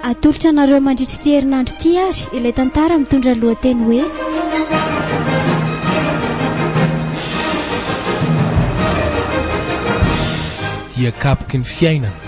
Atolotra anareo mandritry ity herinandro ity ary ilay tantara mitondra lohateny hoe Dia kapoky ny fiainana.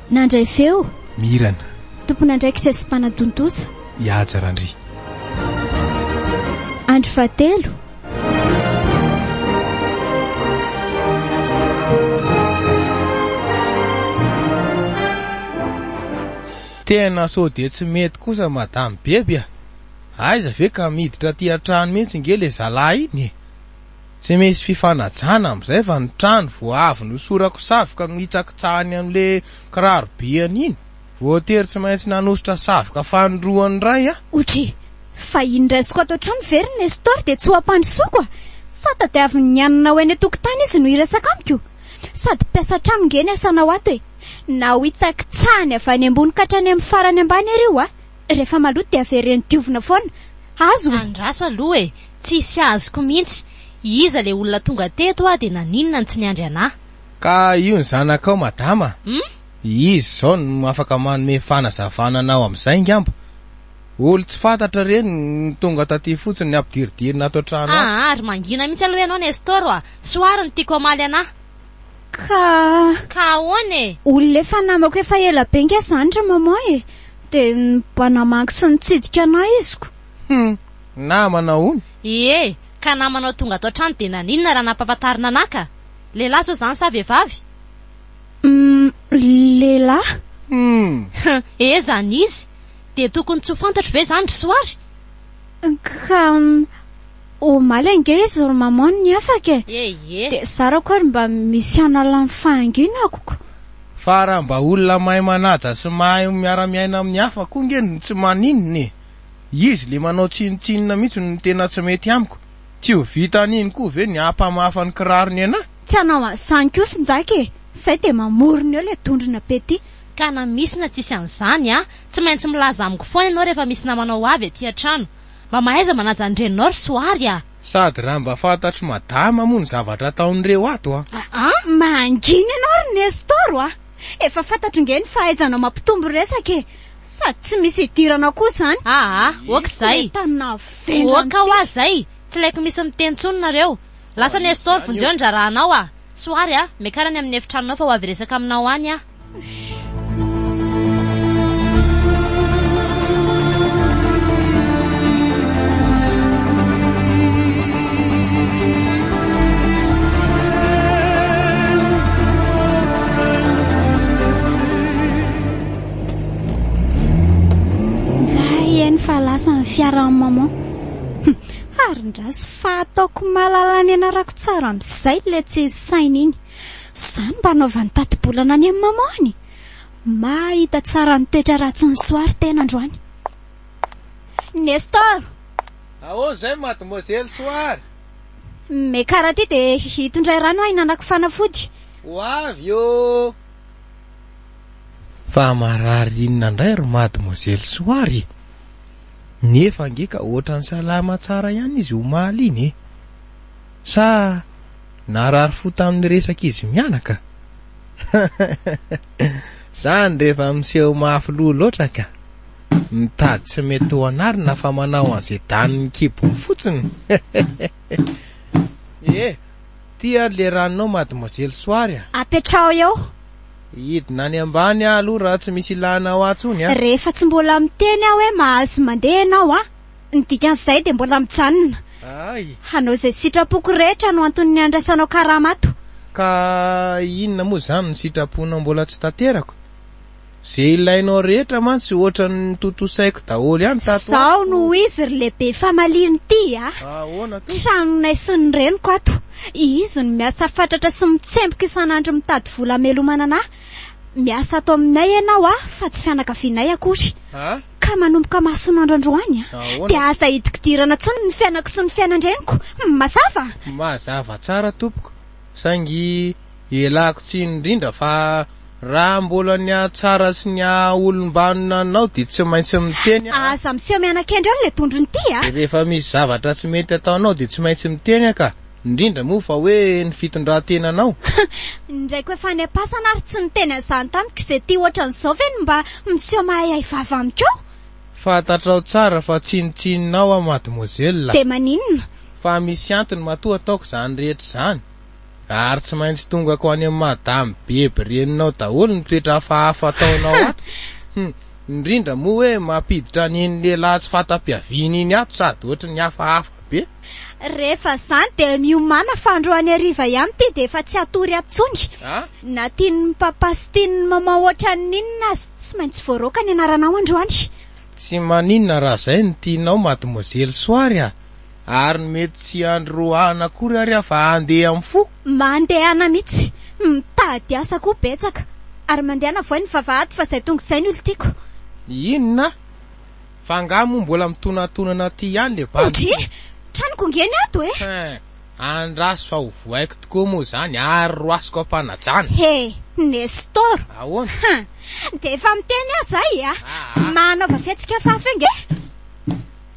Nandray feo. Mirana. Tompon'andraikitra sy mpanatontosa. I Haja Randria. Andro fahatelo. Tena sao dia tsy mety kosa madame Beby a! Aiza ve ka miditra aty an-trano mihitsy nge le zalahy iny e! Tsy misy fifanajana amin'izay fa ny trano vao avy nosorako savoka no hitsakitsahany an'le kiraro be an'iny. Voatery tsy maintsy nanosotra savoka fanindroany indray aho. Oudjy, fa iny raisiko ato an-trano ve ry Nestor dia tsy ho ampandrosoako a! Sa tadiavin'ny niananao eny an-tokotany izy no hiresaka amiko? Sady mpiasa an-trano nge ny asanao ato e! Na ho hitsakitsahany avy any ambony ka hatrany amin'ny farany ambany ary io a! Rehefa maloto dia avereno diovina foana. Azo e! Andraso aloha e! Tsisy azoko mintsy, iza le olona tonga teto ah de naninona no tsy niandry anah. Ka io ny zanakao madama a! Hum? Izy izao no afaka manome fanazavana anao amin'izay ngamba. Olo tsy fantatra ireny no tonga taty fotsiny ny ampidiridirina ato an-trano ato. Aa ry mangina mintsy aloha ianao Nestor a! Soary no tiako hamaly anah. Ka. Ka ahoana e? Olona efa namako efa ela be nge zany ry maman e! De mba namaky sy nitsidika anah iziko. Hum! Namana hono! Ie! Ka namanao tonga ato an-trano dia naninona raha nampahafantarina anà ka! Lehilahy sao izany sa vehivavy? Hum! Lehilahy! Hum! Hum! He! Izany izy! Dia tokony tsy ho fantatro ve izany ry Soary? Ka omaly ange izy ry maman no niafaka e! Ie! Ie! Dia zarako ary mba misy hanala ny fahanginako ko! Fa raha mba olona mahay manaja sy mahay miara-miaina amin'ny hafa koa ange no tsy maninona e! Izy le manao tsinotsinona mihitsy no tena tsy mety amiko. Tsy ho vita an'iny koa ve ny hampamafa ny kirarony anah? Tsy hanao an'izany koa sinjaka e! Zay dia mamorona eo le dondrona petit. Ka na misy na tsisy an'izany a! Tsy maintsy milaza amiko foana ianao rehefa misy namanao ho avy aty an-trano. Mba mahaiza manaja ny reninao ry Soary a! Sady raha mba fantatr'i Madama moa ny zavatra ataon'ireo ato a! Aa! Mangina ianao ry Nestor a! Efa fantatro nge ny fahaizanao mampitombo resaka e! Sady tsy misy idirana koa zany. Aa ok zay. Ok hoa zay. Tsy laiko misy miteny tsony nareo. Lasa Nestor vonjeo ny drarahanao a. Soary a. Miakara any amin'ny efitranonao fa ho avy hiresaka aminao any aho. Eny fa lasa ny fiara ny maman. Hm, harindrasy fa ataoko mahalala ny anarako tsara amin'izay ilay tsy saina iny. Izany mba anaovan'ny tati-bolana any amin'ny mamany. Mahita tsara ny toetra ratsy ny soary tena androany. Nestor! Ahoana izay mademoiselle soary? Me karaty dia hitondray rano ahy nanako fanafody. Ho avy eo! Fa marary inona ndray ry mademoiselle Soary e! Nefa ange ka ohatrany salama tsara ihany izy omaly iny e! Sa narary fo tamin'ny resaka izy mianaka? Zany rehefa miseho mafy loha loatra ka! Mitady tsy mety ho anarina fa manao an'izay danin'ny kibony fotsiny! Ee! Ty ary le ranonao mademoiselle Soary a! Apetraho eo! Hidina any ambany aho aloha raha tsy misy ilana ahy tsony a! Rehefa tsy mbola miteny aho hoe mahazo mandeha ianao a! ny dikan'izay dia mbola mijanona hanao izay sitrapoko rehetra no anton'ny handraisanao karama ato. Ka inona moa izany no sitraponao mbola tsy tanterako? Izay ilainao rehetra mantsy ohatran'ny notontosaiko daholo ihany tato ato. Izaho no ho izy ry lehibe famaliana ity a! Tranonay sy ny reniko ato. Izy no miasa fatratra sy mitsemboka isan'andro mitady vola hamelomana anà. Miasa ato aminay ianao a, fa tsy fianakavianay akory. Ka manomboka masoandro androany dia aza idikidirana intsony ny fiainako sy ny fiainan-dreniko. Mazava? Mazava tsara, tompoko. Saingy Ialako tsiny indrindra fa raha mbola ny hahatsara sy ny hahaolombanona anao dia tsy maintsy miteny aho a! Aza miseho mianakendry eo ilay dondrona ity a! Rehefa misy zavatra tsy mety ataonao dia tsy maintsy miteny aho ka! Indrindra moa fa hoe ny fitondran-tenanao! Indraiko efa any am-pasana ary tsy niteny an'izany tamiko izay ity ohatran'izao ve no mba miseho mahahiahy vava amiko eo? Fantatrao tsara fa tsinontsinonao aho mademoiselle a! Dia maninona? Fa misy antony matoa ataoko izany rehetra izany! Ary tsy maintsy tongako any amin'ny madame beby reninao daholo ny toetra hafahafa ataonao ato. Hum, indrindra moa hoe mampiditra an'iny lehilahy tsy fanta-piaviana iny ato sady ohatry ny hafahafa be. Rehefa izany dia miomàna fa andro any hariva ihany ity dia efa tsy hatory ato intsony. Ah? Na tian'ny papa sy tian'ny maman ohatran'ny inona aza, tsy maintsy voaroaka ny anaranao androany. Tsy maninona raha izay no tianao mademoiselle Soary a! Ary ny mety tsy handry roahina akory ary aho fa handeha amin'ny fo? Mba handehana mitsy. Mitady asa koa betsaka. Ary mandehana voay ny vavahady fa zay tonga izay ny olon-tiako. Inona? Fa angaha moa mbola mitonatonana aty ihany le bandy? Odry! Tranoko nge ny ato e! Hein! Andraso fa ho voaiko tokoa moa izany ary roasiko am-panajana. He! Nestor! Ahoana? Hein! Dia efa miteny aza ahy e! Manaova fihetsika fahafaha nge!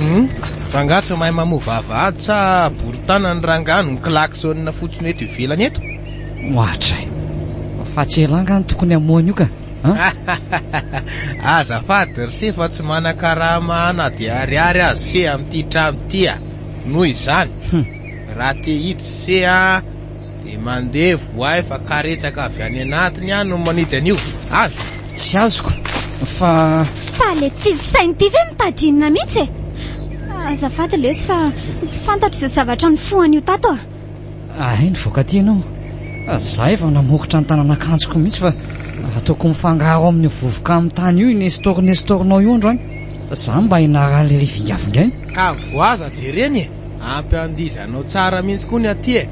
Hum, rangahy tsy mahay mamoa vavahady sa boritana ny rangahy no klaxonina fotsiny eto ivelany eto? Ohatra e. Fa tsy elah nga no tokony hamoha an'io ka? Azafady ry se fa tsy manan-karama na dia ariary aza se amin'ity trano ity a. Noho izany, raha te hiditra se a. Dia mandeha voay fa karetsaka avy any anatiny ihany no manidy an'io. Azo? Tsy azoko fa. Fa le tsy sainy ity ve mitady inona mihitsy e? Azafady lesy fa tsy fantatro izay zavatra nifoha an'io tato a. Ahay nivoaka aty ianao. Zahay vao namokotra ny tanan'akanjoko mihitsy fa ataoko mifangaro amin'io vovoka amin'ny tany io i Nestor Nestor-nao io androany. Zany mba ianaran'ilay vingavingaina. Ka voaza jereny e. Ampy andiza anao tsara mihintsy koa ny aty e!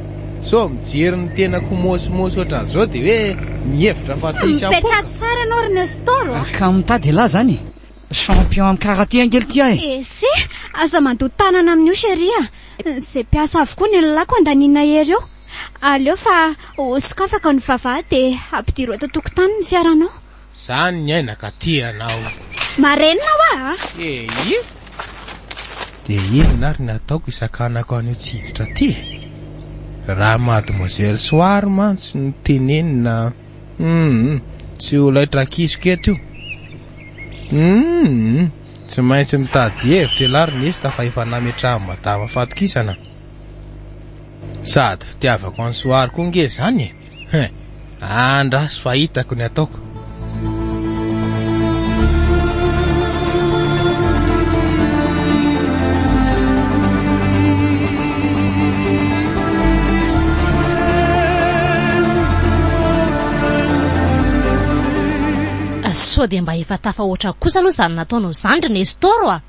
Sao mijery ny tenako mosmos ohatran'izao dia hoe mihevitra fa tsy hisy ampoka? Mipetraha tsara ianao ry Nestor a! Ka mitady elah zany e! Champion am karaté ange lty ah e! Ese, aza mandoa tanana amin'io chérie a! Izay mpiasa avokoa ny lelahiko andanina ery eo! Aleo fa ho sokafako ny vava dia ampidiro eto an-tokotany ny fiaranao! Zany ny aina ka tia anao. Marenina hoa a! Eeh! Dia inona ary ny ataoko hisakanako an'io tsy hiditra ty e? Raha mademoiselle Soary mantsy no tenenina humm tsy ho laitrakiziko eto io humm tsy maintsy mitady hevitra ialahy ry nesta fa efa nametrahan'i madama fatokisana sady fitiavako an'i Soary koa nge zany e! Hein! Andraso fa hitako ny ataoko. sao dia mba efa tafahoatra kosa aloha izany nataonao izany ry Nestor a!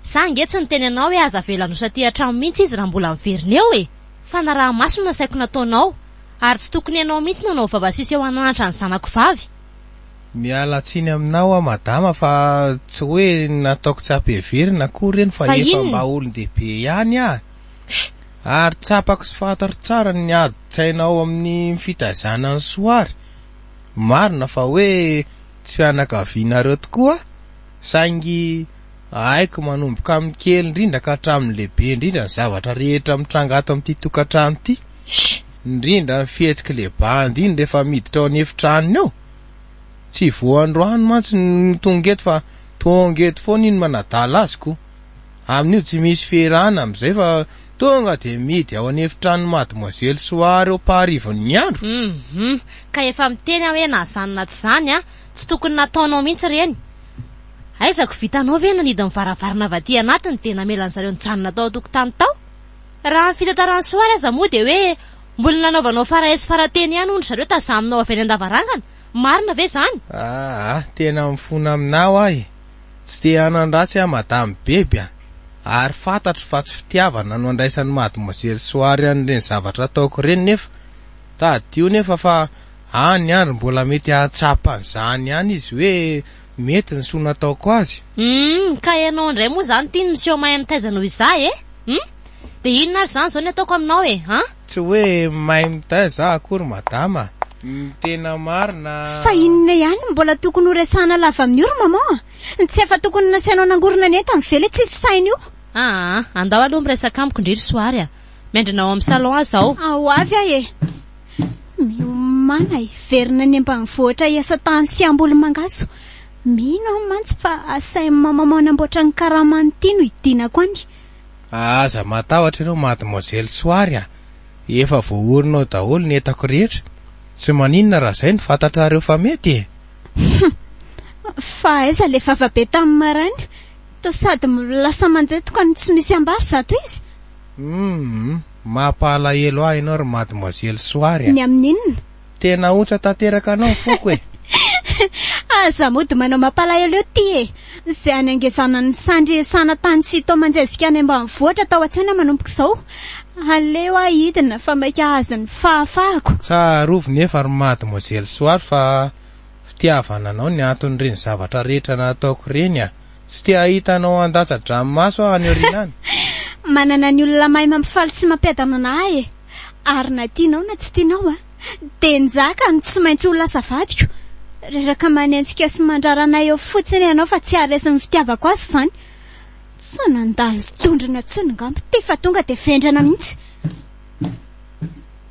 Sa ange tsy niteny anao hoe aza avela handosa aty an-trano mihitsy izy raha mbola miverina eo e! Fanaraha-maso no nasaiko nataonao, ary tsy tokony ianao mihitsy no hanao vava sisy eo an'anatra ny zanako vavy. Miala tsiny aminao aho madama fa tsy hoe nataoko tsy ampiheverina akory ireny fa efa mba olon-dehibe ihany aho ary tsapako sy fantatro tsara ny adin-tsaina ao amin'ny fitaizana an'i Soary. Marina fa hoe tsy fianakavianareo tokoa aho saingy Haiko manomboka amin'ny kely indrindra ka hatramin'ny lehibe indrindra ny zavatra rehetra mitranga ato amin'ity tokantrano ity. Indrindra ny fihetsik'i Leband iny rehefa miditra ao an'efitranony ao. Tsy voandroany mantsy no tonga eto fa tonga eto foana iny manadala azy ko. Amin'io tsy misy fierana amin'izay fa tonga dia mihidy ao an'efitranon'i Mademoiselle Soary eo am-paharivony ny andro. Hum! Ka efa miteny aho hoe na izany na tsy izany an! Tsy tokony nataonao mihitsy ireny. Aiza ko vitanao ve nanidy ny varavarana avy aty anatiny dia namelan'ny zareo nijanona tao an-tokotany tao? Raha ny fitantaran'i Soary aza moa dia hoe mbola nanaovanao farahay sy farateny ihany hono ry zareo tazaminao avy any an-davarangana, marina ve izany? Aa tena mifona aminao aho e! Tsy te hanan-dratsy aho madame Beby a! Ary fantatro fa tsy fitiavana no andraisan'i mademoiselle Soary an'ireny zavatra ataoko ireny nefa tadidio nefa fa any ary mbola mety hahatsapa an'izany ihany izy hoe Mety ny soa nataoko azy. Humm ka ianao indray moa izany ity ny miseho mahay mitaiza noho izaho e! Humm dia inona ary izany izao ny ataoko aminao e! An! Tsy hoe mahay mitaiza aho akory madama a! Ny tena marina a! Fa inona ihany no mbola tokony ho resahana lava amin'io ry maman a! Ny tsy efa tokony nasainao nangorona ny entany ve ilay tsisy saina io? Aa andao aloha miresaka amiko ndry ry soary a! Miandrina ao amin'ny salon aza aho. Ho avy aho e! Miomana hiverina any ambanivohitra hiasa tany sy hamboly mangahazo. Mino aho mantsy fa asain'i Mamamao hanamboatra ny karamany ity no hidinako any. Aza matahotra ianao Mademoiselle Soary a! Efa voaorina ao daholo ny entako rehetra. Tsy maninona raha izay no fantatrareo fa mety e! Humm! Fa aiza ilay vava be tamin'ny maraina? Toa sady lasa manjetoka no tsy misy ambara zato izy. Humm, mampalahelo ahy ianao ry mademoiselle Soary a! Ny amin'ny inona? Tena ahotsa tanteraka anao ny foko e! Aza mody manao mampalahelo eo ty e! Izay hanengezana ny sandry hiasana tany sy toa manjezika any ambanivohitra tao an-tsaina manomboka izao. Aleo aho hidina fa maika hahazo ny fahafahako. Tsarovy nefa ry mademoiselle Soary fa fitiavana anao ny anton'ireny zavatra rehetra nataoko ireny a! Tsy te hahita anao handatsa-dranomaso aho any aoriana any. Manana ny olona mahay mampifaly sy mampiadana ahy e! Ary na tianao na tsy tianao an, dia njaka no tsy maintsy ho lasa vadiko! Reraka manenjika sy mandrara anay eo fotsiny ianao fa tsy haharesy ny fitiavako azy izany! Tsy nandalo dondrona intsony ngamba ity fa tonga dia vendrana mihitsy!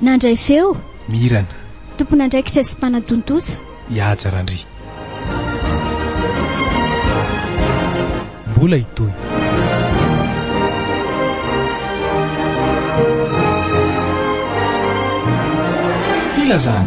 Nandray feo. Mirana. Tompon'andraikitra sy mpanatontosa. I Haja Randria. Mbola hitohy. Filazana.